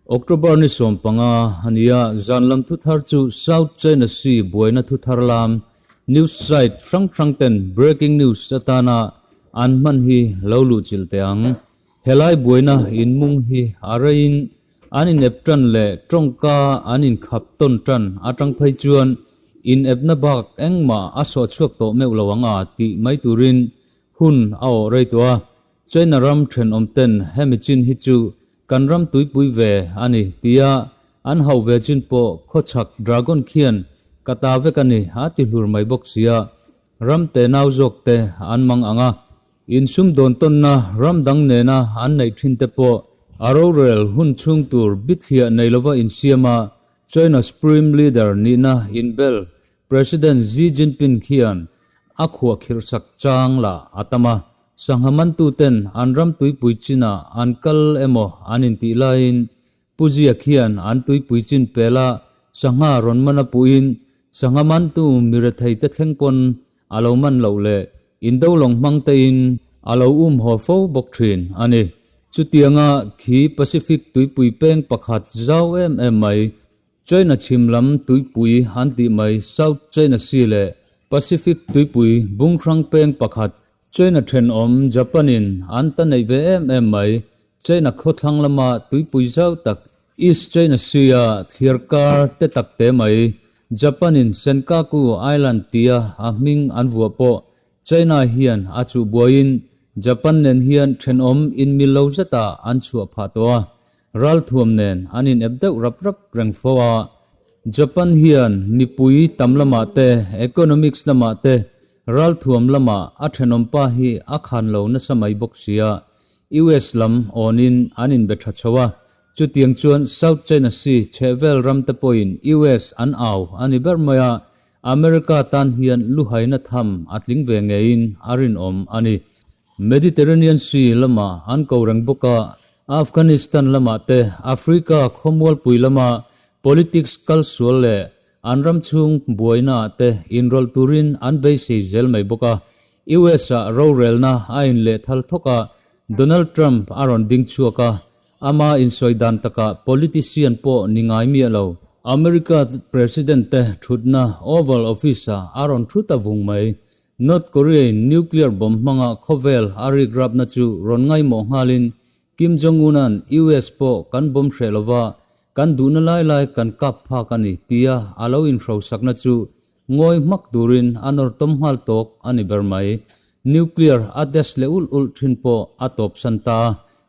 October ni sawm panga a ni a, zanlam thuthar chu South China Sea buaina thuthar lam news site hrang hrangten breaking news atana an hman hi lo luhchilh teh ang. Helai buaina inmung hi a reiin an inep ṭan leh ṭawngka an inkhap tawn ṭan aṭang phei chuan inepna bak engmah a suah chhuak tawh meuh lo ang a tih mai turin hun a awh rei tawh a. China ram ṭhenawmten hemi chin hi chu kan ram tuipui ve a ni tia an hauh ve chin pawh khawchhak dragon khian ka ta vek a ni a ti hlur mai bawk sia ram te nau zawkte an mang ang a. Insum dawntawnna ram dang nena an neih thinte pawh a rorel hun chhung tur bitliah nei lova insiam a, China Supreme Leader nihna inbel President Xi Jinping hian a khuah khirhsak chang lah a tam a. Sangha mantuten an ram tuipui chinah an kal emaw an intih laiin Pu Ziak hian an tuipui chin pela sangha rawn man a puhin sangha mantu mi rethei te thleng pawn A lo man loh leh indo lawng hmang te in a lo um haw fo bawk thin a ni. Chutiang a khi Pacific tuipui peng pakhat zau em em mai, China chhim lam tuipui an tih mai South China Sea leh Pacific tuipui bungrang peng pakhat China thenawm Japan in an ta neih ve em em mai, China khawthlang lama tuipui zau tak East China Sea-a thlir kar te tak te mai, Japan-in Senkaku Island tia a hming an vuah pawh, China hian a chuh buaiin Japan nen hian thenawm inmil lo zeta an chhuah phah tawh a, ralthuam nen an inep deuh rap rap reng fo a. Japan hian mipui tam lamah te, economics lamah te, ralthuam lamah a thenawm pa hi a khan lo nasa mai bawk sia, US lam awnin an inbe tha chho a, chutiang chuan South China Sea chhehvel ramte pawhin US an au a ni ber mai a, America tan hian luhaina tham a tling ve ngeiin a rinawm a ni. Mediterranean Sea lamah an ko reng bawk a, Afghanistan lamah te Africa khawmualpui lama politics kalsual leh An ram chhung buainaah te inrawlh turin an beisei zel mai bawk a. US-a rorelna a inleh thal thawkah Donald Trump a rawn ding chhuak a, ama insawi dan takah politician pawh ni ngai miah lo. America President-te thutna Oval Office-a a rawn thut a vung mai. North Korea-in nuclear bomb hmanga khawvel a rikrapna chu rawn ngaihmawh nghalin Kim Jong Un-a'n US pawh kan bawm hreh lo va, kan duhna lai lai kan kap phak a ni tia a lo inhrosakna chu ngawi hmak turin a nawrtawm nghal tawk a ni ber mai. Nuclear a test leh ulh ulh thin pawh a tawpsan ta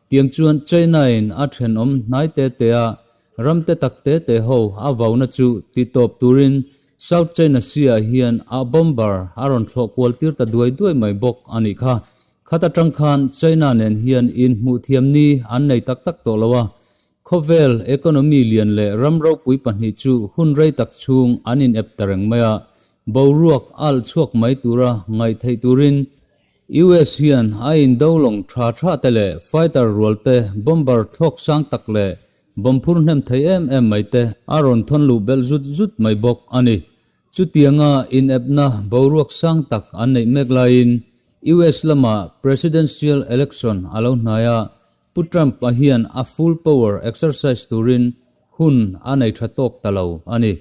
tiang chuan China-in a thenawm hnai te te a, Ramte tak te te ho a vauna chu tih tawp turin South China Sea-ah hian a bomber a rawn thlawh kual tir ta duai duai mai bawk a nih kha. Khat atang khan China nen hian inhmuh thiam ni an nei tak tak tawh lo a, khawvel, economy, lian leh ram ropui pahnih chu hun rei tak chhung an inep ta reng mai a, boruak alh chhuak mai tura ngaih theih turin, US hian a indolawng tha tha te leh fighter rual te, bomber thlawk sang tak leh bom phur hnem thei em em mai te a rawn thawn luh belh zut zut mai bawk a ni. Chutianga inepna boruak sang tak an neih mek laiin US lama presidential election a lo hnai a, Pu Trump-a hian a full power exercise turin hun a nei tha tawk ta lo a ni.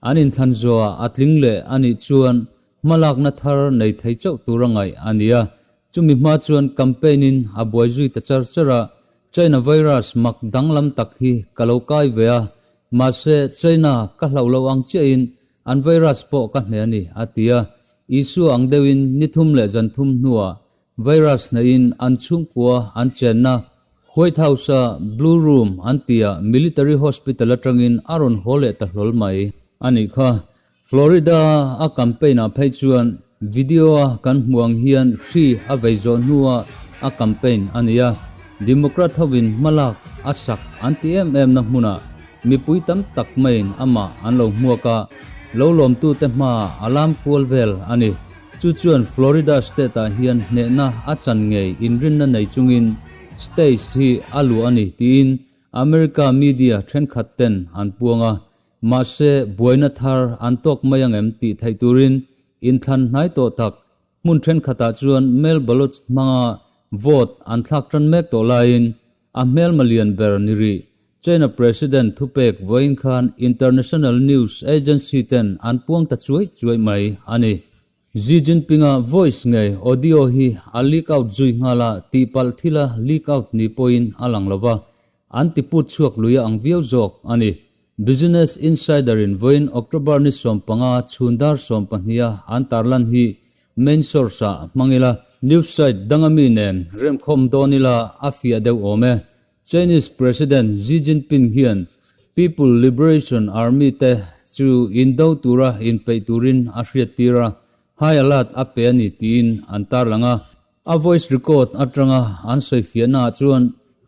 An inthlan zuaah a tling leh a nih chuan Hmalakna thar nei thei chauh tur a ngaih a nia. Chumi hma chuan campaign in a buai zui ta char char a, China virus mak danglam tak hi ka lo kai ve a, mahse China ka hlauh loh ang chiah in an virus pawh ka hne a ni, a ti a. Isua ang deuh in ni thum leh zan thum hnu ah virus hna in an chhungkua an chenna White House a Blue Room an ti ah military hospital atang in a rawn haw leh ta hlawl mai a nih kha. Florida a campaign ah phei chuan video a kan hmuh ang hian hri a vei zawh hnua a campaign a ni a. Democrat hovin hmalak a sak an ti em em na hmunah mipui tam tak maiin amah an lo hmuak a, lo lawmtute hmaa a lam kual vel a ni. Chu chuan Florida state ah hian hnehna a chan ngei inrinna nei chungin states hi a luh a ni tiin America media thenkhat ten an puang a. Mahse, buaina thar an tawk mai ang em tih theih turin inthlan hnai tawh tak, hmun thenkhatah chuan mail ballot hmanga vote an thlak tan mek tawh laiin a hmelma lian ber ni rih. China President thupek vawiin khan international news agency ten an puang ta chuai chuai mai a ni. Xi Jinpinga voice ngei audio hi a leak out zui nghal a, tihpalh thila leak out ni pawhin a lang lo va, an ti put chhuak luia ang viau zawk a ni. Business Insider-in vawiin October ni sawm panga chhundar sawm pahniha an tarlan hi main source ah hmang ila, news site danga mi nen remkhawm dawn ila a fiah deuh awm e, Chinese President Xi Jinping hian People Liberation Army te chu in do tura in peih turin a hriattir a, high alert a pe a ni tiin an tarlang a. A voice record atanga an sawifiahnaah chuan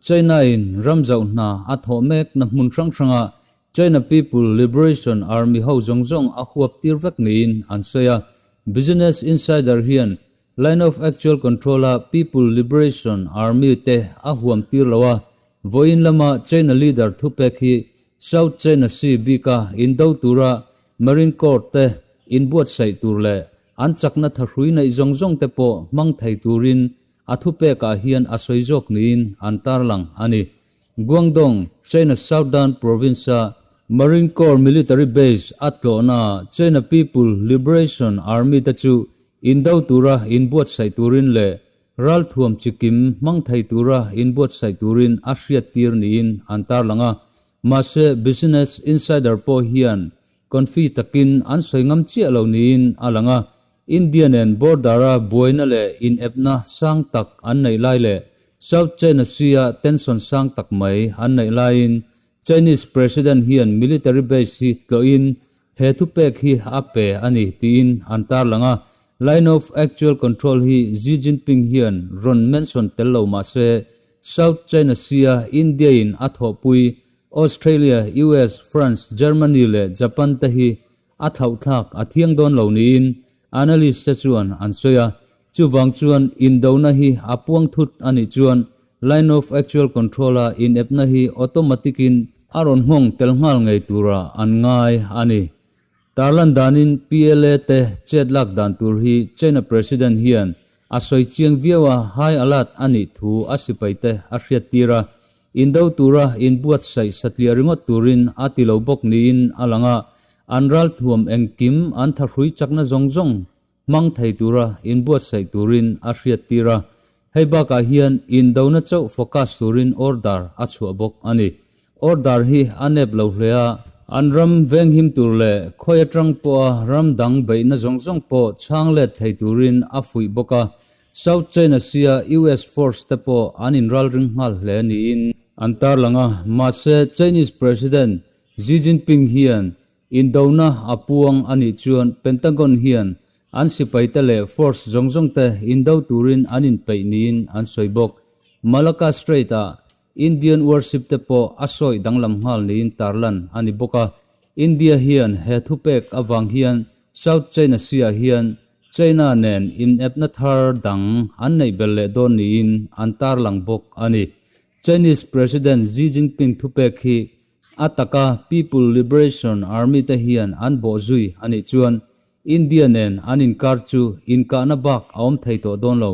China-in ram zauh hna a thawh mekna hmun hrang hranga China People Liberation Army ho zawng zawng a huaptir vek niin an sawi a. Business Insider hian Line of Actual Control-a People Liberation Army te a huam tir lo a, vawiin lama China leader thu pek hi South China Sea bika in do tura Marine Corps te in buatsaih tur leh an chakna tha hrui neih zawng zawng te pawh hmang thei turin a thu pekah hian a sawi zawk niin an tarlang a ni. Guangdong, China Southern Province-a Marine Corps Military Base a tlawhna China People Liberation Army-te chu indo tura inbuatsaih turin leh ralthuam chi kim hmang thei tura inbuatsaih turin a hriattir niin an tarlang a. Mahse, Business Insider pawh hian Confi takin an sawi ngam chiah lo niin a lang a, India nen border-a buaina leh inepna sang tak an neih lai leh South China Sea-a tension sang tak mai an neih laiin Chinese President hian military base hi tlawhin he thupek hi a pe a ni tiin an tarlang a. Line of actual control hi Xi Jinping hian rawn mention tel lo mahse, South China Sea-a India-in a thawhpui Australia, US, France, Germany leh Japan te hi a thauhthlak a thiang dawn lo niin analyst te chuan an sawi a. Chuvang chuan indona hi a puang thut a nih chuan Line of Actual Control-a inepna hi automatic-in a rawn nghawng tel nghal ngei tura an ngai a ni. Tarlan danin PLA te chet lak dan tur hi China President hian a sawi chiang viau a, high alert a nih thu a sipaite a hriat tir a, in do tura in buatsaih satliah ringawt turin a ti lo bawk niin a lang a, an ralthuam engkim an thahrui chakna zawng zawng Hmang thei tura inbuatsaih turin a hriattir a, hei bakah hian indona chauh focus turin order a chhuah bawk a ni. Order hi a nep lo hle a. An ram venghim tur leh khawi atang pawha ram dang beihna zawng zawng pawh chhang let thei turin a fuih bawk a, South China Sea-a US force te pawh an inral ring nghal hle niin. An tarlang a, mahse Chinese President Xi Jinping hian Indona a puang a nih chuan Pentagon hian an sipaite leh force zawng zawng te indo turin an inpeih niin an sawi bawk. Malacca Strait ah Indian warship te pawh a sawi danglam nghal niin tarlan a ni bawk a. India hian he thu pek avang hian South China Sea ah hian China nen inepna thar dang an neih ber leh dawn niin an tarlang bawk a ni. Chinese President Xi Jinping thu pek hi A taka People Liberation Army te hian an bawh zui a nih chuan India nen an inkar chu inkahna bak a awm thei tawh dawn lo.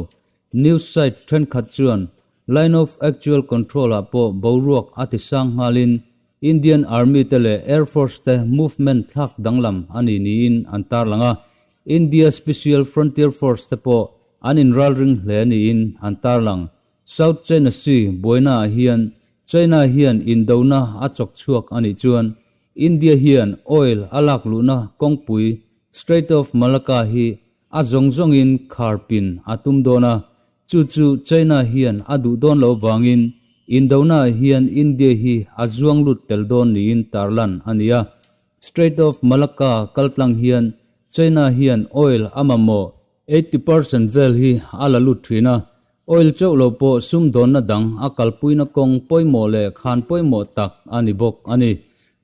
News site thenkhat chuan Line of Actual Control-ah pawh boruak a ti sang nghalin Indian Army te leh Air Force te movement thlak danglam a ni niin an tarlang a. India Special Frontier Force te pawh an inralring hle niin an tarlang. South China Sea buainaah hian China hian indona a chawk chhuak a nih chuan India hian oil a lak luhna kawngpui Strait of Malacca hi a zawng zawngin khar pin a tum dawn a, chu chu China hian a duh dawn lo vangin indonaah hian India hi a zuang lut tel dawn niin tarlan a ni a. Strait of Malacca kaltlang hian China hian oil a mamawh Eighty percent vel hi a la lut thin a, oil chauh lo pawh sumdawnna dang a kalpuina kawng pawimawh leh khan pawimawh tak a ni bawk a ni.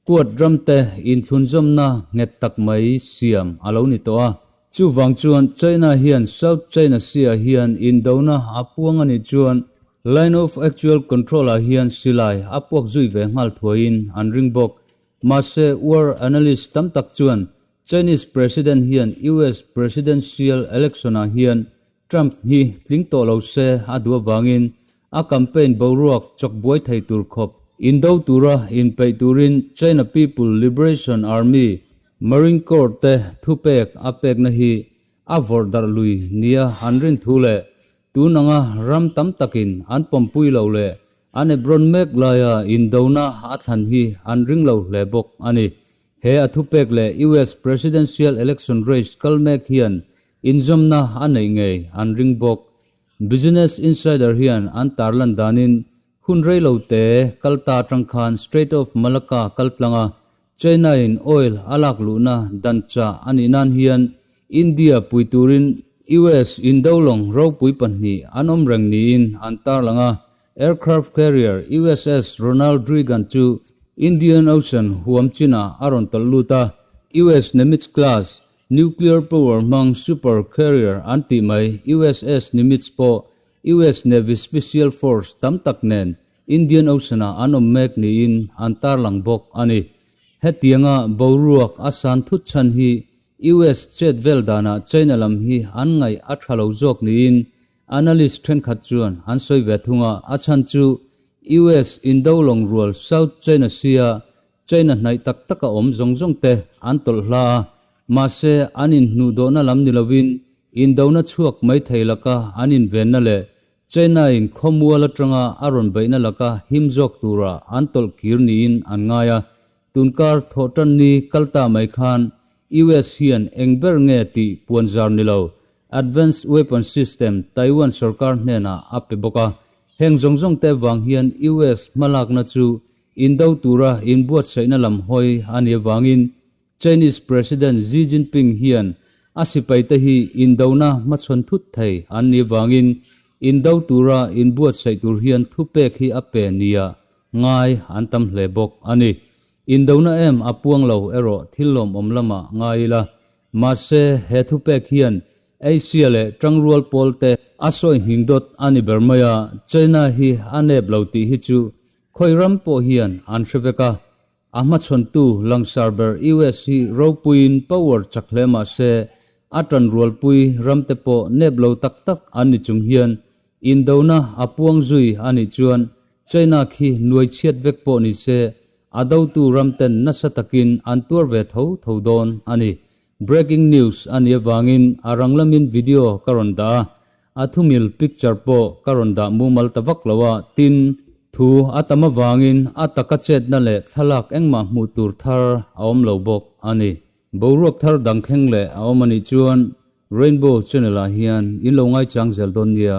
Kuat ramte inthlunzawmna nghet tak mai siam a lo ni tawh a. Chuvang chuan China hian South China Sea-ah hian indona a puang a nih chuan Line of Actual Control-ah hian silai a puak zui ve nghal thuaiin an ring bawk. Mahse, war analyst tam tak chuan Chinese President hian US Presidential Election ah hian Trump hi tling tawh lo se a duh avangin a campaign boruak chawk buai thei tur khawp. In do tura in peih turin China People Liberation Army, Marine Corps te thupek a pekna hi A vawrh darh lui nia an rin thu leh tun anga ram tam takin an pawmpui lo leh an ep rawn mek laia indona a thlan hi an ring lo hle bawk a ni. He a thupek leh US Presidential Election Race kal mek hian inzawmna a neih ngei an ring bawk. Business Insider hian an tarlan danin Hun rei lo te kal ta atang khan Strait of Malacca kal tlang a, China-in oil a lak luhna dan chah a nih nan hian India pui turin US indo lawng ropui pahnih an awm reng niin an tarlang a. Aircraft carrier USS Ronald Reagan chu Indian Ocean huam chinah a rawn tawlh lut a, US Nimitz-class Nuclear power hmang super carrier an tih mai USS Nimitz pawh US Navy Special Force tam tak nen Indian Ocean-ah an awm mek niin an tarlang bawk a ni. Hetianga boruak a san thut chhan hi US chet vel danah China lam hi an ngaih a tha lo zawk niin analyst thenkhat chuan an sawi ve thung a, a chhan chu US Indo lawng rual South China Sea-a Train a hnaih tak tak a awm zawng zawng te an tawlh hla a, mahse an inhnuhdawhna lam ni lovin indona chhuak mai thei laka an invenna leh train aiin khawmual atanga a rawn beihna laka him zawk tura an tawlh kir niin an ngai a. Tun kar thawh tan ni kal ta mai khan US hian eng ber nge tih puan zar ni lo Advanced Weapon System Taiwan sawrkar hnenah a pe bawk a, heng zawng zawng te vang hian US hmalakna chu Indo tura inbuatsaihna lam hawi a ni avangin Chinese President Xi Jinping hian a sipaite hi Indona hmachhawn thut thei an ni avangin Indo tura inbuatsaih tur hian thupek hi a pe nia ngai an tam hle bawk a ni. Indona em a puang lo erawh thil lawmawm lamah ngai ila Mahse, he thupek hian Asia leh ṭang rual pawlte a sawihning dawt a ni ber mai a, China hi a nep lo tih hi chu khawi ram pawh hian an hre vek a. A hmachhawntu langsar ber US hi ropuiin power chak hle mahse, a ṭanrualpui ramte pawh nep lo tak tak an ni chung hian Indona a puang zui a nih chuan China khi nuai chhiat vek pawh ni se, a dotu ram ten nasa takin an tuar ve tho tho dawn a ni. Breaking news a nih avangin a rang lamin video ka rawn dah a, a thumil picture pawh ka rawn dah mumal ta vak lo a, tin, thu a tam avangin a taka chetna leh thlalak engmah hmuh tur thar a awm lo bawk a ni. Boruak thar dang thleng leh a awm a nih chuan Rainbow Channel ah hian in lo ngaichang zel dawn nia.